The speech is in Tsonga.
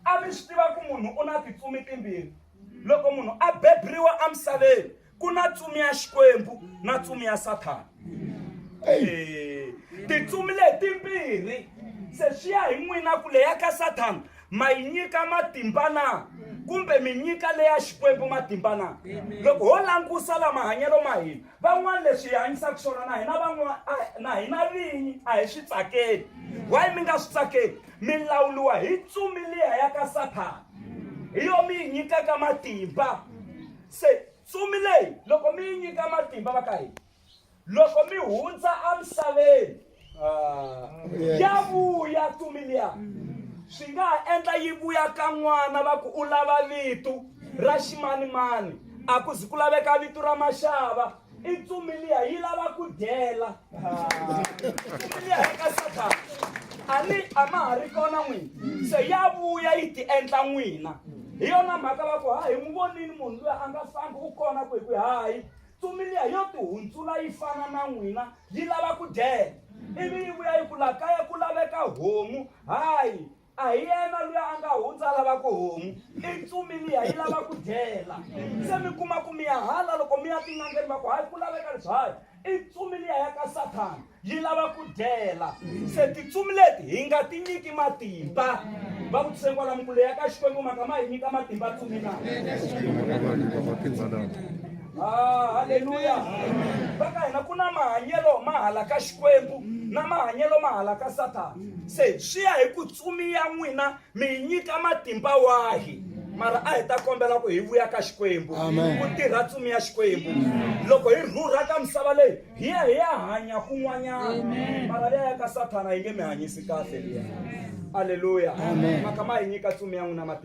a mi swi tiva ku munhu u na titsumi timbirhi loko munhu a bebriwa emisaveni ku na tsumi ya xikwembu na tsumi ya sathana eh, titsumi letimbirhi se swi ya hi n'wina ku leya ka sathana ma yi nyika matimba na kumbe mi nyika leya xikwembu matimba na loko ho langusa la mahanyelo ma hina van'wana leswi hi hanyisaka swona na hina van'wana na hina vinyi a hi swi tsakeli why mi nga swi tsakeli mi lawuriwa hi tsumi liya ya ka sathana hi yo mi yi nyikaka matimba se tsumi leyi loko mi yi nyika matimba va ka hina loko mi hundza emisaveni ah, ya vuya tsumi liya swi nga ha endla yi vuya ka n'wana va ku u lava vitu ra ximanimani a ku zi ku laveka vitu ra maxava i ntsumi liya yi lava ku dyela ntsumi liya ya ka sathana a ni a ma ha ri kona n'wina se ya vuya yi ti endla n'wina hi yona mhaka va ku hayi n'wi vonini munhu luya a nga fambi u kona ku hi ku hayi ntsumi liya yo ti hundzula yi fana na n'wina yi lava ku dyela ivi yi vuya yi ku la kaya ku laveka homu hayi a hi yena loyi a nga hundza lava ku homu i ntsumi liya yi lava ku dyela se mi kuma ku mi ya hala loko mi ya tin'angeni va ku hayi ku laveka leswayo i ntsumi liya ya ka sathana yi lava ku dyela se tintsumi leti hi nga ti nyiki matimba va ku tise kwala mikulo ya ka xikwembu maka ma hi nyika matimba tsumi na Ah, haleluya va ka hina ku na mahanyelo ma hala ka xikwembu na mahanyelo ma hala ka sathana se swi ya hi ku tsumi ya n'wina mi yi nyika matimba wahi mara a hi ta kombela ku hi vuya ka xikwembu Amen. ku tirha tsumi ya xikwembu loko hi rhurha ka misava leyi hi ya hi ya hanya kun'wanyana mara liya ya ka sathana yi nge mi hanyisi kahle liya aleluya Amen. maka ma hi nyika tsumi ya n'wina matimba